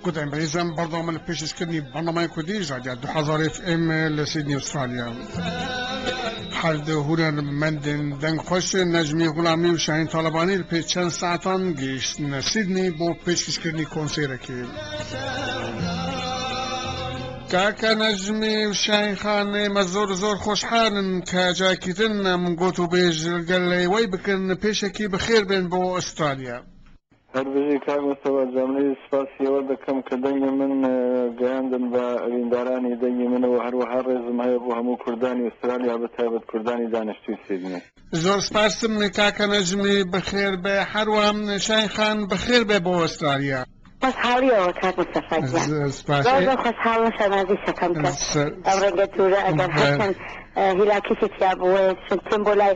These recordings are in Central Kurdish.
گۆتەین بەریزم بەردەوامە لە پێشکەشکردنی بەرنامەی کوردی ژادیا 2000 FM لە سیدنی ئوسترالیا هەر دو هونەرمەندن دەنگ خۆش نەجمی غولامی و شاهین تاڵەبانی پێ چەند ساعتان گەیشتنە سیدنی بۆ پێشکەشکردنی کۆنسێرەکی کاکە نەجمی و شاهین خان ئێمە زۆر زۆر خۆشحالن کە جاکیتن من گۆت و بێژ گەل لەوەی بکەن پێشەکی بەخێر بێن بۆ ئوسترالیا هەر بژی کاک مستەفا جەملی سوپاسی ئێوە دەکەم کە دەنگی من گەیاندن بە ئەویندارانی دەنگی من و هەروەها ڕێزم هەیە بۆ هەموو کوردانی ئوسترالیا بە تایبەت کوردانی دانیشتووی سیدنی. زۆر سپاستم کاکە نەجمی بەخێر بێ هەروا شاین خان بەخێر بێ بۆ ئۆسترالیا. خۆشحاڵیەوە کاک مستەفا گیان زۆر زۆر خۆشحاڵم شانازی شەقەم کە ئەم ڕێگە دوورە ئەگەر هەرچەند هیلاکیشی تیابوو وەیە چون تێم بۆ لای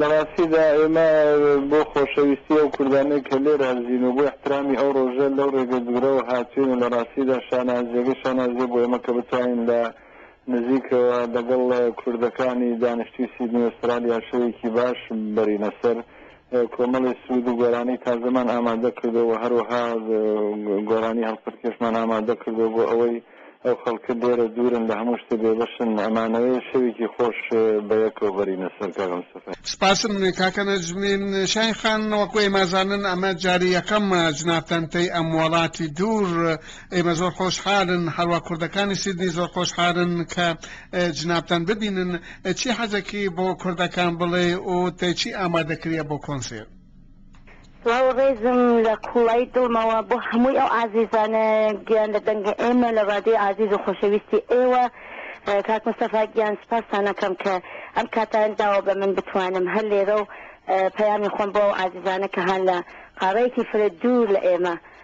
لە ڕاستیدا ئێمە بۆ خۆشەویستی ئەو کوردانەی کە لێرە هەرزین و بۆ ئیحترامی ئەو ڕۆژە لەو ڕێگە دوورەوە هاتووین و لە ڕاستیدا شانازییەکە شانازییە بۆ ئێمە کە بتوانین لە نزیکەوە لەگەڵ کوردەکانی دانیشتووی سیدنی ئوسترالیا شەوێکی باش بەرینە سەر. کۆمەڵێ سوود و گۆرانی تازەمان ئامادە کردووە و هەروەها گۆرانی هەڵپەرکێشمان ئامادە کردووە بۆ ئەوەی ئەو خەڵکە لێرە دوورن لە هەموو شتێ بێبەشن ئەمانەوێ شەوێکی خۆش بە یەکەوە بەرینە سەر کاک مستەفا. سپاسم کاکە نەجمی. شاهین خان وەکو ئێمە زانن ئەمە جاری یەکەمە جنابتان پێی ئەم وەڵاتی دوور ئێمە زۆر خۆشحالن هەروا کوردەکانی سیدنی زۆر خۆشحالن کە جنابتان ببینن چی حەزەکی بۆ کوردەکان بڵێ و تەی چی ئامادە کریە بۆ کۆنسێر؟ سڵاو و ڕێزم لە قوڵایی دڵمەوە بۆ هەمووی ئەو ئازیزانە گیان لە دەنگە ئێمە لە ڕادیۆی ئازیز و خۆشەویستی ئێوە کاک مستەفا گیان سپاستان ئەکەم کە ئەم کاتەان داوە بە من بتوانم هەر لێرە و پەیامی خۆم بۆ ئەو ئازیزانە کە هان لە قاڕەیەکی فرە دوور لە ئێمە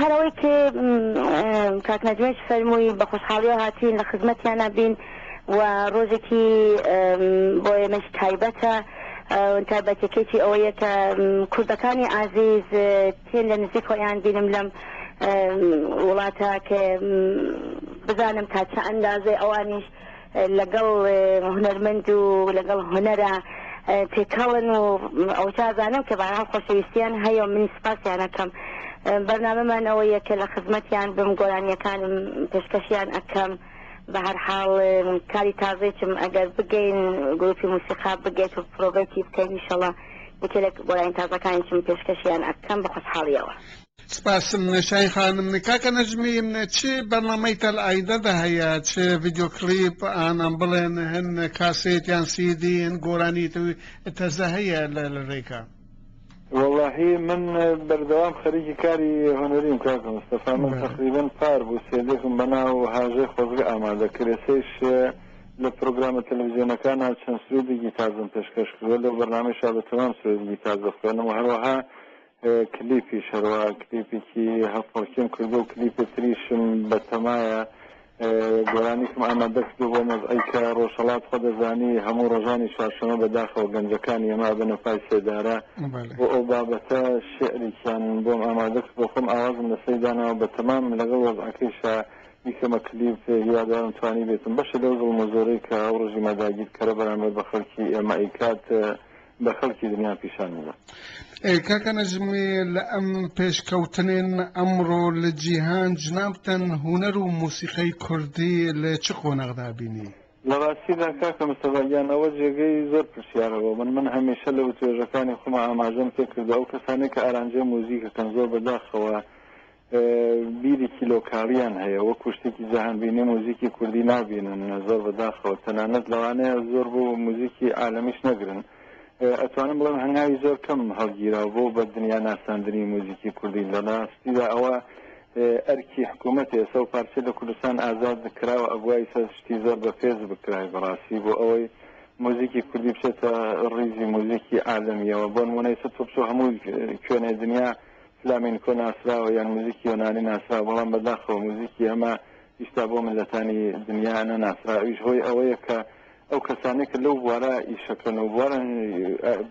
هەر ئەوەی کە کاک نەجمەش فەرمووی بە خۆشحاڵیەوە هاتوین لە خزمەتیانە بین و ڕۆژێکی بۆ ئێمەش تایبەتە تایبەتەکەیی ئەوەیە کە کوردەکانی ئازیز پێن لە نزیک خۆیان بینم لەم وڵاتە کە بزانم تا چە ئەندازێ ئەوانیش لەگەڵ هونەرمەند و لەگەڵ هونەرە تێکەڵن و ئەوجازانم کە بەها خۆشەویستیان هەیە و منی سپاسیانەکەم بەرنامەمان ئەوە یەکە لە خزمەتیان بم گۆرانیەکانم پێشکەشیان ئەەکەم بە هەر حاڵ کاری تازێکم ئەگەر بگەین گروپی موسیقا بگێت و پرۆڤەتی بکەین شڵە یەکێک گۆرانی تازەکانیشم پێشکەشیان ئەەکەم بە خۆشحاڵیەوە سپاس شاهین خانم کاکە نەجمی چ بەرنامەی تەل ئایدە دە هەیە چ ڤیدیۆ کلیپ ئان ئەم بڵێن هەن کاسێت یان سیدی هەن گۆرانی تەوی تەزە هەیە لە لە رێکا وەڵاهی من بەردەوام خەریکی کاری هونەریم کاکە مستەفا من تەقریبەن پار بوو سێدێکم بەناو هاژەی خۆزگە ئامادە کرێسەیش لە پرۆگرامە تەلەڤزیۆنەکانا چەند سوێدێکی تازەم پێشکەش کردووە لەو بەرنامەیشا بە تەمام سوێدێکی تازە خوێنم و هەروەها کلیپیش هەروا کلیپێکی هەڵپەڕکێم کردوە و کلیپێ تریشم بەتەمایە گۆرانیکم ئامادە کردو بۆ مەزعی کە ڕۆژهەڵات خۆ دەزانی هەموو ڕۆژانی چوارشەمە بەداخەوە گەنجەکانی ئێمە ئەبەنە پای سێدارە بۆ ئەو بابەتە شعریکیان بۆم ئامادە کردو خۆم ئاوازم لەسەی داناوە بەتەمام لەگەڵ وەزعەکەیشا بیکەمە کلیپ هیوادارم توانیبێتم بەشێ لەو زوڵمە زۆرەی کە ئەو ڕژیمە داگیرکەرە بەرامبەر بە خەڵکی ئێمە ئەیکات بە خەڵکی دنیا پیشان بدا. کاکە نەجمی لە ئەم پێشکەوتنێن ئەمڕۆ لە جیهان جنابتان هونەر و موسیقای کوردی لە چ قۆناغدا بینی؟ لە ڕاستیدا کاکە مستەفا گیان ئەوە جێگەی زۆر پرسیارە بۆ من، من هەمیشە لە وتوێژەکانی خۆما ئاماژەم پێ کردوە ئەو کەسانەی کە ئارانجەی موزیک ئەکەن زۆر بە داخەوە بیرێکی لۆکاڵیان هەیە وەکو شتێکی جەهانبینی موزیکی کوردی نابینن زۆر بەداخەوە تەنانەت لەوانەیە زۆر بۆ موزیکی عالمیش نەگرن ئەتوانم بڵێم هەنگاوی زۆر کەم هەڵگیرا بۆ بە دنیا ناساندنی موزیکی کوردی لە ڕاستیدا ئەوە ئەرکی حکوومەت ئێسە و پارچە لە کوردستان ئازاد کراوە ئەبوای سەر شتی زۆر بە پێز بکرای بەڕاستی بۆ ئەوەی موزیکی کوردی بچێتە ڕیزی موزیکی عالمیەوە بۆن منەیسە تۆپچۆ هەموو کوێنێ دنیا فلامێنکۆ ناسراوە یان موزیکی یۆنانی ناسراوە بەڵام بەداخەوە موزیکی ئەمە ئیستا بۆ مللەتانی دنیا نە ناسرا ئەویش هۆی ئەوەیە کە ئەو کەسانەی کە لەو بوارە ئیشەکەن و بوارە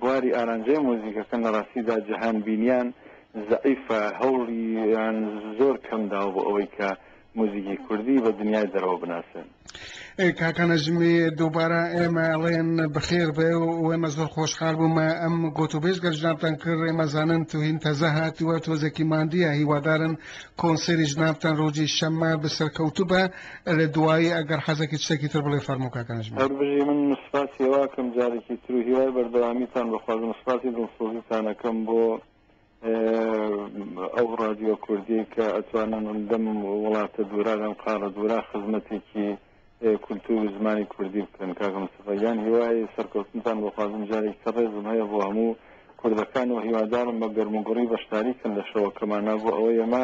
بواری ئارانجەی موزیکەکەن لە ڕاستیدا جەهان بینیان زەعیفە هەوڵیان زۆر کەم داوە بۆ ئەوەی کە موزیکی کوردی بە دنیای دەرەوە بناسێن. کاکە نەجمی دووبارە ئێمە ئەڵێن بەخێر بێ و ئێمە زۆر خۆشحال بوومە ئەم گوت و بێژ گەرجنابتان کرد ئێمە زانن توهین تەزە هاتووە تۆزێکی ماندیە هیوادارن کۆنسێری جنابتان ڕۆژی شەممە بەسەرکەوتو بە لە دوایی ئەگەر حەزەکی شتێکی تر بڵێ فەرموو کاکە نەجمی. هەر بژی من سوپاسی ئێوە ئەکەم جارێکی تر و هیوای بەردەوامیتان بەخوازم سوپاسی دڵسۆزیتان ئەکەم بۆ ئەو ڕادیۆ کوردیەی کە ئەتوانم لەم وڵاتە دوورا لەم قاڵە دوورا خزمەتێکی کولتور و زمانی کوردی بکەن کاکە مستەفا یان هیوای سەرکەوتنتان بۆخوازم جارێک تر ڕێزم هەیە بۆ هەموو کوردەکان و هیوادارم بە گەرموگوڕی بەشداری کەن لە شەوەکەمانە بۆ ئەوە یەمە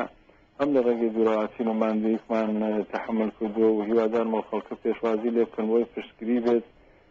هەم لە ڕێگەی دوورەواتین و ماندوویکمان تحمل کردو و هیوادارمەوە خەڵکە پێشوازی لێ بکەن بۆی پشتگری بێت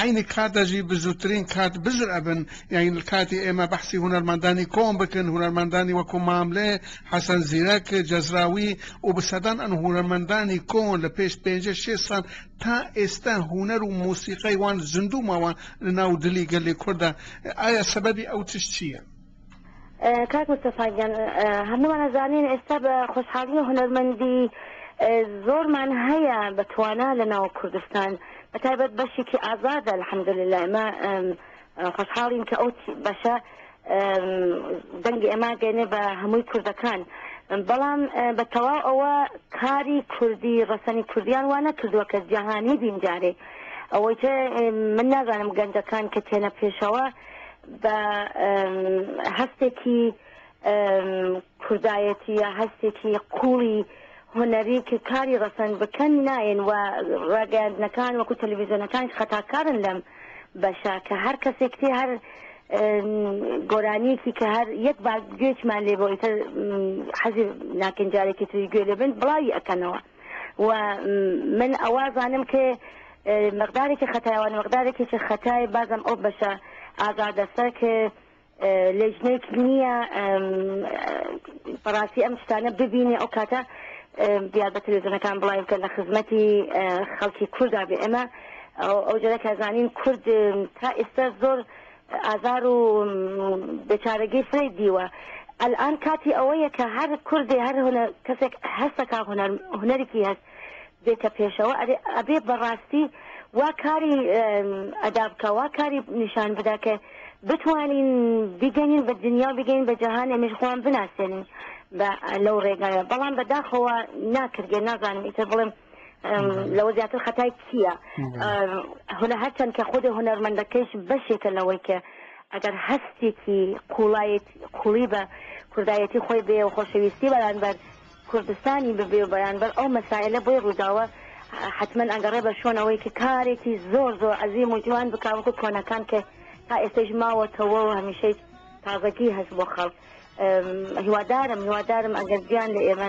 عەینی کات دەژی بزوترین کات بزر ئەبن یاین کاتی ئێمە بەحسی هونەرمەندانی کۆم بکن هونەرمەندانی وەکو ماملێ حەسەن زیرەک جەزراوی و بسەدان ئەن هونەرمەندانی کۆن لە پێش پێنجە شێ سال تا ئێستا هونەر و موسیقای وان زندوو ماوە لە ناو دلی گەلی کوردە ئایا سەبەبی ئەو تش چییە؟ کاک مستەفا گیان هەموومان ئەزانین ئێستا بە خۆشحاڵی هونەرمەندی زۆرمان هەیە بە توانا لە ناو کوردستان بە تایبەت بەشێکی ئازادە الحمدلله ئێمە خۆشحاڵین کە ئەو بەشە دەنگی ئێمە گەێنێ بە هەمووی کوردەکان بەڵام بە تەواو ئەوە کاری کوردی ڕەسەنی کوردیان وانە کردووە کە جیهانی بینجارێ ئەوەی من نازانم گەنجەکان کە تێنە پێشەوە بە هەستێکی کوردایەتی یا هەستێکی قوڵی هونەری کە کاری ڕەسەنگ بکەن نایەن و ڕاگەاندنەکان وەکو تەلەڤیزیۆنەکانش خەتاکارن لەم بەشە کە هەر کەسێک تێ هەر گۆرانیەکی کە هەر یەک با گوێچمان لێ بۆ ئیتر حەزی ناکەین جارێکی تری گوێ لێبن بڵاوی ئەەکەنەوە و من ئەوا زانم ک مقدارێکی خەتای وان مقدارێکیچ خەتای بازم ئەو بەشە ئازادەسە ک لێژنەیک نییە بەڕاستی ئەم شتانە ببینێ ئەو کاتە دیار بە تەلەزیۆنەکان بڵاوی بکەن لە خزمەتی خەڵکی کوردا بێ ئێمە ئەو جۆرە کە زانین کورد تا ئێستا زۆر ئازار و بێ چارەگی فرەی دیوە ئەلئان کاتی ئەوەیە کە هەر کوردێ هەر هونە کەسێک هەستەکە هونەر هونەرێکی هەست بێتە پێشەوە ئەرێ ئەبێ بەڕاستی وا کاری ئەدا بکە وا کاری نیشان بدا کە بتوانین بیگەنین بە دنیا و بگەین بە جەهان ئەمیش خۆیان بناسێنین بە لەو ڕێگایە بەڵام بەداخەوە ناکردێ نازانم ئیتر بڵێم لەوە زیاتر خەتای کییە هەە هەرچەند کە خودی هونەرمەندەکەش بەشێکە لەوەی کە ئەگەر هەستێکی قوڵایت قوڵی بە کوردایەتی خۆی بێ و خۆشەویستی بەرانبەر کوردستانی ببێ و بەرانبەر ئەو مەسایلە بۆی ڕووداوە حتمما ئەگەڕێ بە شوۆنەوەی کە کارێکی زۆر زۆر عزیی موجوان بکوەکو کۆنەکان کە تا ئێستش ماوەتەوە و هەمیشەی تازەکی هەست بۆ خەڵک هیوادارم هیوادارم ئەگەر گیان لە ئێمە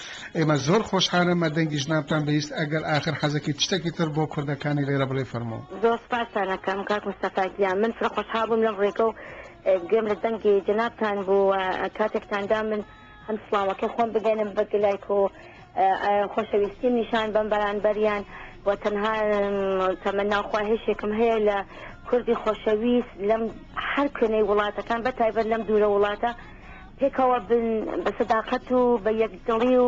ئێمە زۆر خۆشحالن مە دەنگی ژنانتان بهیست ئەگەر ئاخر حەزەکی تشتەکی تر بۆ کوردەکانی لێرە بڵێ فەرموو. زۆر سوپاستان ئەکەم کاک مستەفا گیان من فرە خۆشحاڵ بووم لەم ڕێگە و گوێم لە دەنگی جەنابتان بوو و کاتێکتان دا من هەم سڵاوەکەی خۆم بگەنم بە گلایک و خۆشەویستیم نیشان بەم بەرانبەریان و تەنها تەمەناو خواهێشێکم هەیە لە کوردی خۆشەویست لەم هەر کوێنەی وڵاتەکان بە تایبەت لەم دوورە وڵاتە پێکەوە بن بە سەداقەت و بە یەکدڵی و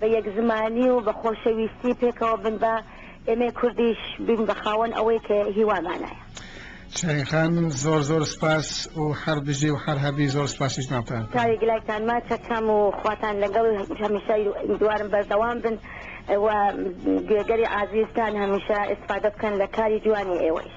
بە یەک زمانی و بە خۆشەویستی پێکەوە بن با ئێمەی کوردیش بین بە خاوەن ئەوەی کە هیوامانایە. شاهین خان زۆر زۆر سپاس و هەر بژی و هەر هەبی زۆر سپاسی جنابتان ئەکەم. چاوی گلایتان ماچ ئەکەم و خواتان لەگەڵ هەمیشە هیوادوارم بەردەوام بن و گوێگەری ئازیزتان هەمیشە ئیستفادە بکەن لە کاری جوانی ئێوەیش.